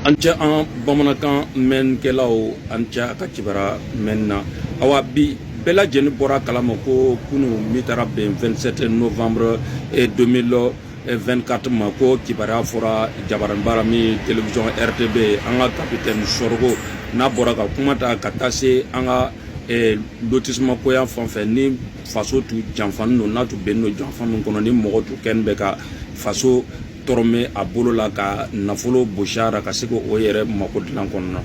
an cɛ an bamanankan mɛnkɛlaw an cɛ a ka kibara mɛn na awa bi bɛɛ lajɛlen bɔra kalama ko kunu min taara bɛn 27 novembre 2024 ma ko kibaruya fɔra jabaranbara min television rtb an ka kapitɛni sorgho n'a bɔra ka kuma ta ka taa se an ka eh, lotissement koya fan fɛ ni faso tu janfani don n'a tu bɛnni don janfa min kɔnɔ ni mɔgɔ tu kɛni bɛ ka faso dɔrɔmɛ a bolo la ka nafolo bosi a ra ka se k'o yɛrɛ mako dilan kɔnɔna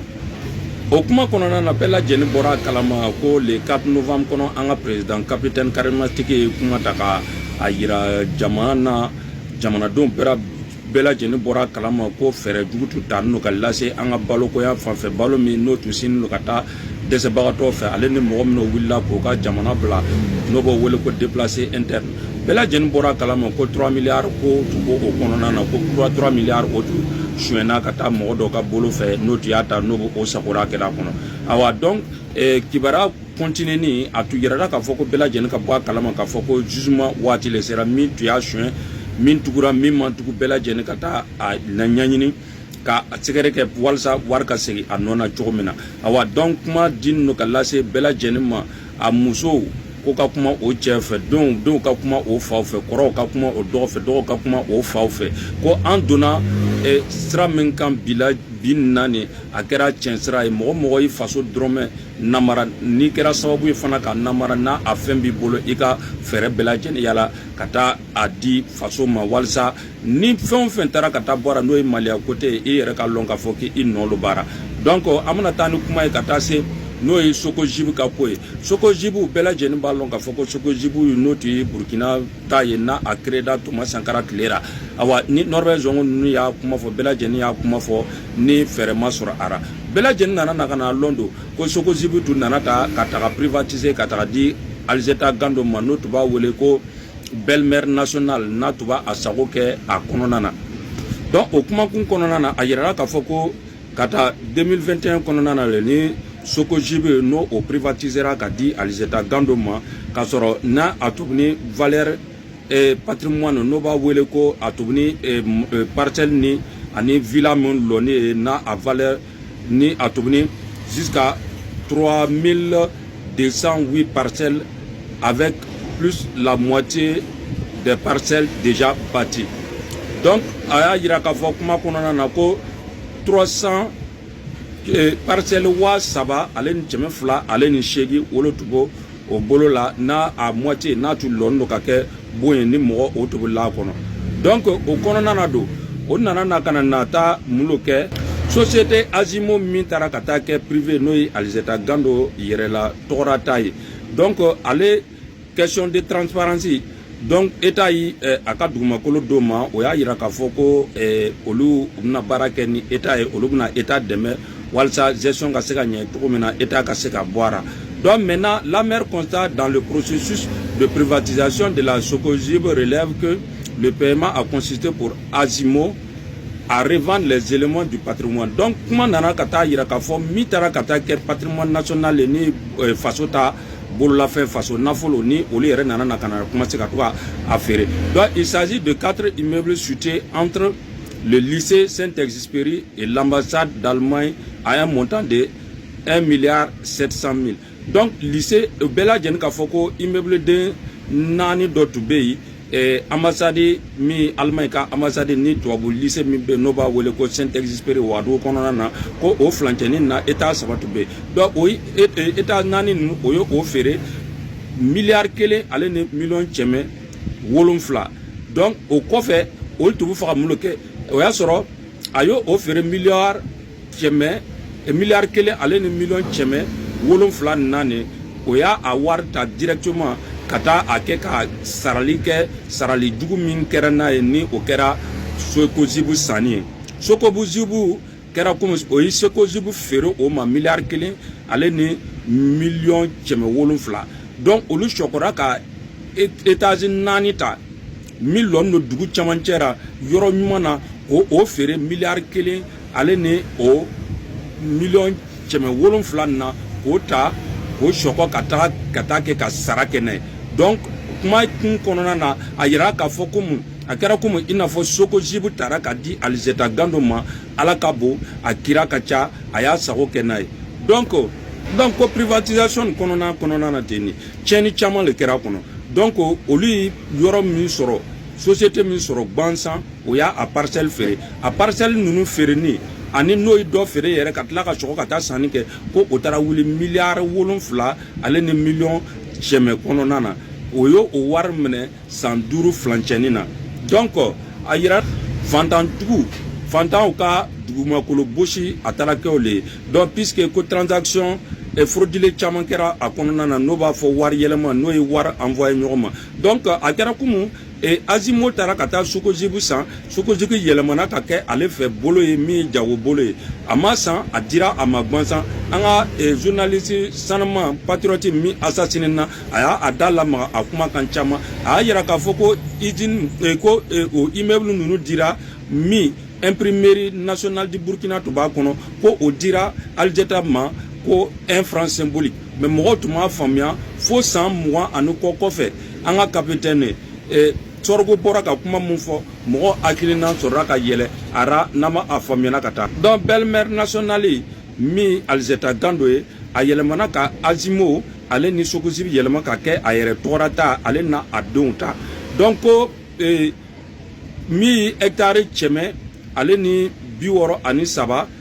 o kuma kɔnɔna na bɛɛ lajɛlen bɔra a kalama ko le 4 novembre kɔnɔ an ka président capitaine karimatigi ye kuma ta ka a yira jamana na jamanadenw bɛɛ bɛɛ lajɛlen bɔra a kalama ko fɛɛrɛ jugu tun tannen don ka lase an ka balokoya fanfɛ balo min n'o tun sinnen don ka taa dɛsɛbagatɔw fɛ ale ni mɔgɔ minnu wulila k'o ka jamana bila n'o b'o wele ko déplacé interne bɛɛ lajɛlen bɔra kalama ko 3 milliards ko tun b'o o kɔnɔna na ko 3 milliards o tun suɲɛna ka taa mɔgɔ dɔw ka bolo fɛ n'o tun y'a ta n'o b'o o sagora kɛra a kɔnɔ awa donc eh, kibaruya kɔntineni a tun yirala k'a fɔ ko bɛɛ lajɛlen ka bɔ a kalama k'a fɔ ko jugement waati le sera min tun y'a suɲɛ min tugura min man tugu bɛɛ lajɛlen ka taa a ɲɛɲini ka a sɛgɛrɛ kɛ walasa wari ka segin a nɔ na cogo min na awa donc kuma dilen don ka lase bɛɛ lajɛlen ma a musow ko ka kuma o cɛ fɛ denw denw ka kuma o faw fɛ kɔrɔw ka kuma o dɔgɔ fɛ dɔgɔw ka kuma o faw fɛ ko an donna eh, sira min kan bi la bi na nin a kɛra tiɲɛ sira ye mɔgɔ mɔgɔ y'i faso dɔrɔmɛ namara n'i kɛra sababu ye fana ka namara n'a a fɛn b'i bolo i ka fɛɛrɛ bɛɛ lajɛlen yala ka taa a di faso ma walisa ni fɛn o fɛn taara ka taa bɔra n'o ye maliya kote ye i yɛrɛ ka lɔn k'a fɔ k'i nɔ lo baara donc an bɛna taa ni kuma ye ka taa se n'o ye socogib ka ko ye socogib bɛɛ lajɛlen b'a lɔn k'a fɔ ko socogib n'o tun ye burkina ta ye n'a a créera thomas sankara tile ra awa ni norbert zongo ninnu y'a kuma fɔ bɛɛ lajɛlen y'a kuma fɔ ni fɛɛrɛ ma sɔrɔ a ra bɛɛ lajɛlen nana na ka na lɔn don ko socogib tun nana ta ka taga privatiser ka taga di alizeta gando ma n'o tun b'a wele ko belle-mère nationale n'a tun b'a a sago kɛ a kɔnɔna na donc o kumakun kɔnɔna na a yirala k'a fɔ ko ka taa 2021 kɔnɔna na le ni socogib n'o o privatisera ka di alizeta gando ma k'a sɔrɔ n'a a tun bɛ ni valeur eh, patrimoine n'o b'a wele ko a tun bɛ ni eh, eh, parcelle ni ani villa min lɔni ye n'a a valeur ni a tun bɛ ni jusqu'à 3208 parcelles avec plus la moitié des parcelles déjà bâties. Donc, a y'a yira k'a fɔ kuma kɔnɔna na ko 300 eh, parcelles waa saba ale ni kɛmɛ fila ale ni seegin o lo tun b'o o bolo la n'a a moitié n'a tun lɔni don ka kɛ bon ye ni mɔgɔ o tun bɛ la a kɔnɔ donc o kɔnɔna na don o nana na ka na na taa mun lo kɛ société azimo min taara ka taa kɛ privé n'o ye alizeta gando yɛrɛ la tɔgɔra ta ye donc ale question de transparence donc état ye eh, a ka dugumakolo d'o ma o y'a yira k'a fɔ ko eh, olu bɛna baara kɛ ni état ye olu bɛna état dɛmɛ walisa gestion ka se ka ɲɛ cogo min na état ka se ka bɔ a la donc maintenant l'amer constat dans le processus de privatisation de la socogib relève que le paiement a consisté pour azimo à revendre les éléments du patrimoine donc kuma nana ka taa yira k'a fɔ min taara ka taa kɛ patrimoine national ye ni eh, faso ta bololafɛn faso nafolo ni olu yɛrɛ nana na ka na commencer ka to ka a feere donc il s'agit de quatre immeubles situés entre le lycée Saint-Exupéry et l'ambassade d'Allemagne à un montant de 1 milliard 700 000 donc lycée bɛɛ lajɛlen k'a fɔ ko immeuble den naani dɔ tun bɛ yen Eh, ambassade min Allemagne ka ambassade ni tubabu lycée min bɛ n'o b'a wele ko saint exupéry wagadugu kɔnɔna na ko o filancɛni na étage saba tun bɛ donc o étage naani ninnu o ye o feere miliyari kelen ale ni miliyɔn cɛmɛ wolonfila donc o kɔfɛ olu tun b'a fɛ ka mun lo kɛ o y'a sɔrɔ a y'o o feere miliyari cɛmɛ eh, miliyari kelen ale ni miliyɔn cɛmɛ wolonfila na o y'a a wari ta directement ka taa a kɛ ka sarali kɛ sarali jugu min kɛra n'a ye ni o kɛra socogib sanni ye socogib kɛra komi o ye socogib feere o ma miliyari kelen ale ni miliyɔn kɛmɛ wolonfila donc olu sɔkɔra ka étage naani ta min lɔnin lo dugu camancɛ la yɔrɔ ɲuman na k'o o feere miliyari kelen ale ni o miliyɔn kɛmɛ wolonfila na k'o ta k'o sɔkɔ ka taga ka taa kɛ ka sara kɛ n'a ye donc kuma kun kɔnɔna na a yira k'a fɔ ko mun a kɛra komi i n'a fɔ socogib tara ka di alizeta gando ma ala ka bon a kira ka ca a y'a sago kɛ n'a ye donc donc ko privatisation kɔnɔna kɔnɔna na ten de tiɲɛni caman le kɛra a kɔnɔ donc olu ye yɔrɔ min sɔrɔ société min sɔrɔ gwansan o y'a a parcelle feere a parcelle ninnu feereni ani n'o ye dɔ feere yɛrɛ ka tila ka sɔgɔ ka taa sanni kɛ ko o taara wuli miliyari wolonfila ale ni miliyɔn cɛmɛ kɔnɔna na o y'o o wari minɛ san duuru filancɛni na donc a yira fantanjugu fantanw ka dugumakolo bɔsi a taara kɛ o le ye donc puisque ko transaction eh, frauduleux caman kɛra a kɔnɔna na n'o b'a fɔ wari yɛlɛma n'o ye wari envoyé ɲɔgɔn ma donc a kɛra komi azimo taara ka taa socogib san socogib yɛlɛmana ka kɛ ale fɛ bolo ye min ye jago bolo ye a ma san a dira a ma gansan an ka journaliste sanuma patriote min assassiné na a y'a da lamaga a kumakan caman a y'a yira k'a fɔ ko iz ko o immeuble ninnu dira min imprimerie nationale du burkina tun b'a kɔnɔ ko o dira alizeta ma ko un franc symbolique mais mɔgɔw tun m'a faamuya fo san mugan ani kɔ kɔfɛ an ka kapitɛni eh, sorgho bɔra ka kuma min fɔ mɔgɔ hakilinan sɔrɔla ka yɛlɛ a ra n'a ma a faamuyana ka taa donc belle-mère nationale min alizeta gando ye a yɛlɛmana ka azimo ale ni socogib yɛlɛma ka kɛ a yɛrɛ tɔgɔ ra ta ale na a denw ta donc ko eh, min hectare cɛmɛ ale ni bi wɔɔrɔ ani saba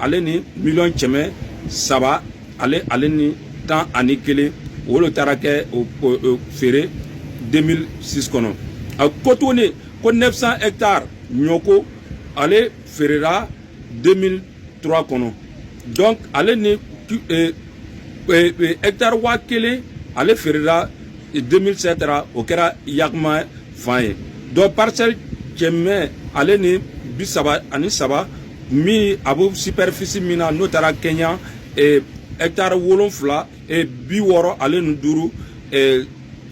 ale ni mi cɛmɛ saba ale ale ni tan ani kelen wolo taara kɛ feere den si kɔnɔ a ko tuguni ko nesa e taa ɲɔko ale feerela den tura kɔnɔ dɔn ale ni e taara waa kelen ale feerela denmisɛn sera taara o kɛra yakuma fan ye dɔ pasɛ cɛmɛ ale ni bi saba ani saba min a bɛ superficie min na n'o taara kɛɲɛ eh, hectare wolonfila eh, bi wɔɔrɔ ale ni duuru eh,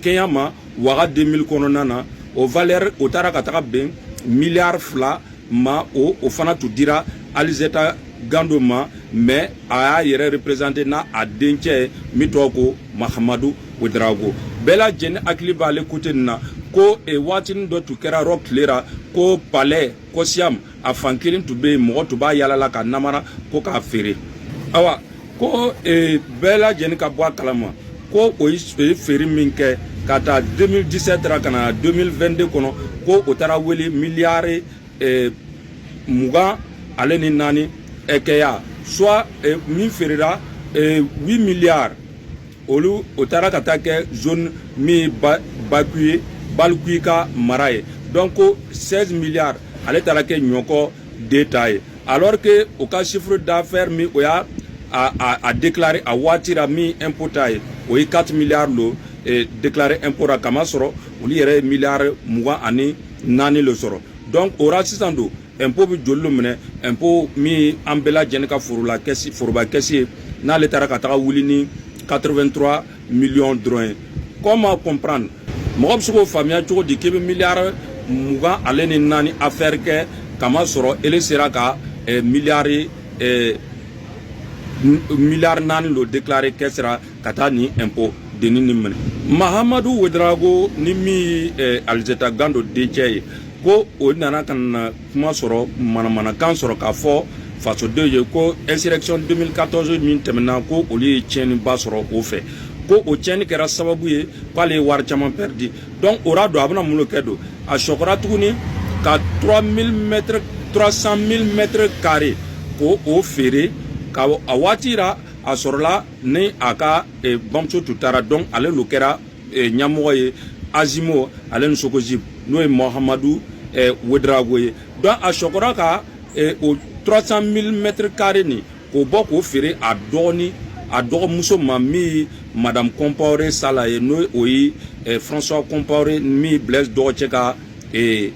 kɛɲɛ ma waga 2000 kɔnɔna na o valeur o taara ka taga bɛn miliyari fila ma o o fana tun dira alizeta gando ma mais a y'a yɛrɛ représenter n'a a dencɛ ye min tɔgɔ ko mahamadu ouedraogo bɛɛ lajɛlen hakili b'ale côté nin na ko e waatinin dɔ tun kɛra yɔrɔ tilera ko palais kosyam a fan kelen tun bɛ yen mɔgɔ tun b'a yaala la ka namara ko k'a feere awa ko e, bɛɛ lajɛlen ka bɔ a kalama ko o ye feere min kɛ k'a ta 2017 ra ka na 2022 kɔnɔ ko o taara wele miliyari e, mugan ale ni naani e, kɛya soit e, min feerera 8 miliyari olu o taara ka taa kɛ zone min ye baku ye balkuy ka mara ye donc 16 milliards ale taara kɛ nioko de ta ye alors que o ka chiffre d'affaires min o y'a a, a, a déclaré a waati ra min impôt ta ye o ye 4 milliards lo e, déclaré impôt ra k'a masɔrɔ olu yɛrɛ ye milliards mugan ani naani lo sɔrɔ donc o ra sisan don impôt bɛ joli lo minɛ impôt min an bɛɛ lajɛlen ka forola kɛsi foroba kɛsi ye n'ale taara ka taga wuli ni 83 miliyɔn dɔrɔn ye comment comprendre mɔgɔ bɛ se k'o faamuya cogo di k'i bɛ miliyari mugan ale ni naani affaire kɛ k'a masɔrɔ ele sera ka eh, miliyari eh, miliyari naani lo déclaré kɛ sera ka taa ni impôt denni ni minɛ mahamadu ouédraogo ni min ye eh, alizeta gando dencɛ ye ko o nana ka na kuma sɔrɔ manamanakan sɔrɔ k'a fɔ fasodenw ye ko insurrection 2014 min tɛmɛna ko olu ye tiɲɛniba sɔrɔ o fɛ ko o tiɲɛni kɛra sababu ye k'ale ye wari caman pɛridi donc o ra don a bɛna mun lo kɛ don a sɔkɔra tuguni ka 3000 mètres 300 000 mètres carrés k'o feere ka a waati ra a sɔrɔla ni a ka bamuso tun taara donc ale lo kɛra eh, ɲamɔgɔ ye azimmo ale ni socogib n'o ye mohamadu eh, ouédraogo ye donc a sɔkɔra ka eh, o 300 mille mètre carré nin k'o bɔ k'o feere a dɔgɔni a dɔgɔmuso ma min ye madame compaoré salah ye n'o ye eh, françois compaoré min ye blaise dɔgɔcɛ ka eh,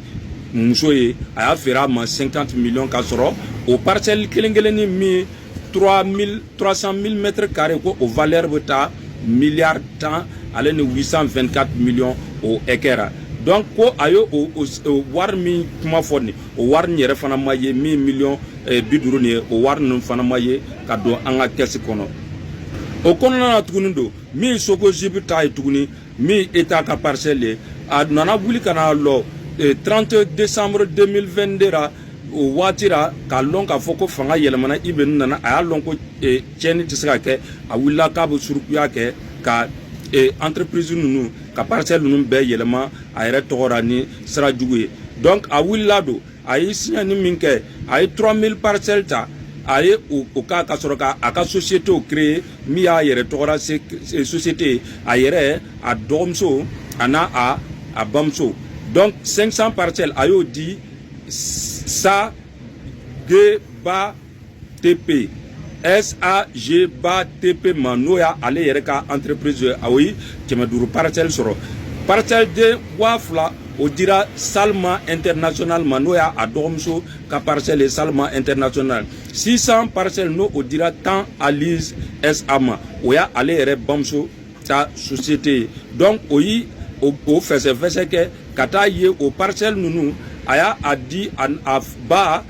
muso ye a y'a feere a ma 50 millions k'a sɔrɔ o parcelle kelen kelenni min ye 3000 300 000 mètres carrés ko o valeur bɛ taa miliyari tan ale ni 824 millions o hakɛ ra donc ko a ye o wari min kuma fɔ nin o wari nin yɛrɛ fana ma ye min miliyɔn eh, bi duuru nin ye o wari ninnu fana ma ye ka don an ka kɛsi kɔnɔ o kɔnɔna na tuguni don min socogib ta ye tuguni min État ka parcelle ye a nana wuli ka na lɔ 30 décembre 2022 ra o waati ra k'a lɔn k'a fɔ ko fanga yɛlɛmana IB nin nana a y'a lɔn ko tiɲɛni tɛ se ka kɛ a wulila k'a bɛ surukuya kɛ ka entreprise ninnu ka parcelle ninnu bɛɛ yɛlɛma a yɛrɛ tɔgɔ ra ni sira jugu ye donc a wulila don a ye siɲɛni min kɛ a ye 3000 parcelles ta a ye o ka ka sɔrɔ ka a ka sociétéw créer min y'a yɛrɛ tɔgɔ ra société a yɛrɛ a dɔgɔmuso a n'a a a bamuso donc 500 parcelles a y'o di SACBA TP SACBA TP ma n'o y'ale yɛrɛ ka entreprise ye a ye kɛmɛ duuru parcelle sɔrɔ parcelle den waa fila o dira Salma international ma n'o y'a dɔgɔmuso ka parcelle ye Salma international 600 parcelle n'o o dira Tan Aliz SA ma o y'ale yɛrɛ bamuso ta société ye donc o yi o fɛsɛfɛsɛ kɛ ka taa ye o parcelle ninnu a y'a di a a ba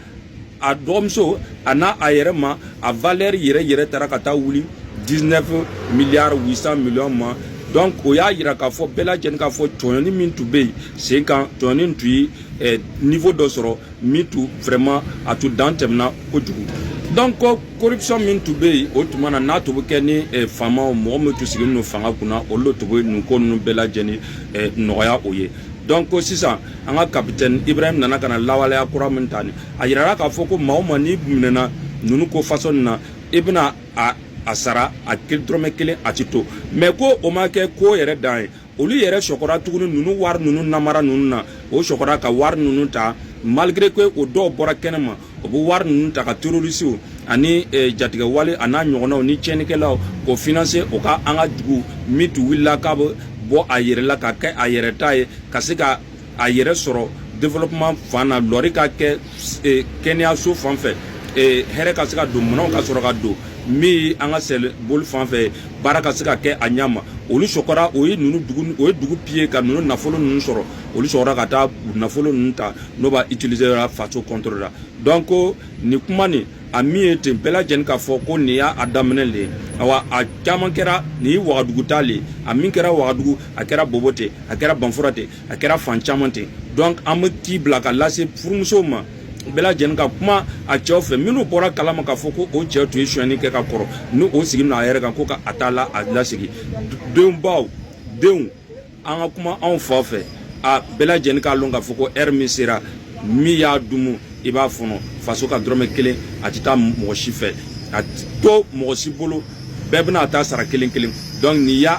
a dɔgɔmuso a n'a a yɛrɛ ma a valeur yɛrɛ yɛrɛ taara ka taa wuli 19 milliards 800 millions ma donc o y'a yira k'a fɔ bɛɛ lajɛlen k'a fɔ tɔɲɔni min tun bɛ yen sen kan tɔɲɔni tun ye eh, niveau dɔ sɔrɔ min tun vraiment a tun dan tɛmɛna kojugu donc corruption min tun bɛ yen o tuma na n'a tun bɛ kɛ ni eh, faamaw mɔgɔ min tun sigilen don fanga kunna olu de tun bɛ nin ko ninnu bɛɛ lajɛlen eh, nɔgɔya o ye donc sisan an ka kapitɛni ibrahim nana ka na lawaleya kura min ta ni a yirara k'a fɔ ko maa o maa n'i minɛna ninnu ko façon nin na i bɛna a a sara a dɔrɔmɛ kelen a ti to mais ko o ma kɛ ko yɛrɛ dan ye olu yɛrɛ sɔkɔra tuguni ninnu wari ninnu namara ninnu na o sɔkɔra ka wari ninnu ta malgré que o dɔw bɔra kɛnɛ ma o bɛ wari ninnu ta ka terrorisiw ani eh, jatigɛwale a n'a ɲɔgɔnnaw ni tiɲɛnikɛlaw k'o financer o ka an ka dugu min tun wulila k'a bɛ bɔ a yɛrɛ la ka kɛ a yɛrɛ ta ye ka se ka a yɛrɛ sɔrɔ développement fan na lɔri ka kɛ eh, kɛnɛyaso fan fɛ eh, hɛrɛ ka se ka don minɛnw ka sɔrɔ ka don min an ka sɛboli fan fɛ baara ka se ka kɛ a ɲa ma olu sɔkɔra o ye dugu piller ka ninnu nafolo ninnu sɔrɔ olu sɔkɔra ka taa nafolo ninnu ta n'o b'a utiliser la faso contre la donc nin kuma nin a min ye ten bɛɛ lajɛlen k'a fɔ ko nin y'a daminɛ de ye awa a caman kɛra nin ye wagadugu ta le ye a min kɛra wagadugu a kɛra bobo ten a kɛra banfura ten a kɛra fan caman ten donc an bɛ ci bila ka lase furumusow ma bɛɛ lajɛlen ka kuma a cɛw fɛ minnu bɔra kalama k'a fɔ ko o cɛw tun ye sonyani kɛ ka kɔrɔ ni o sigi na a yɛrɛ kan ko ka a t'a la a lasigi denbaw denw an ka kuma anw fa fɛ a bɛɛ lajɛlen k'a lɔn k'a fɔ ko heure min sera min y'a dumu i b'a fɔnɔ faso ka dɔrɔmɛ kelen a tɛ taa mɔgɔ si fɛ a to mɔgɔ si bolo bɛɛ bɛna a ta sara kelen kelen donc n'i y'a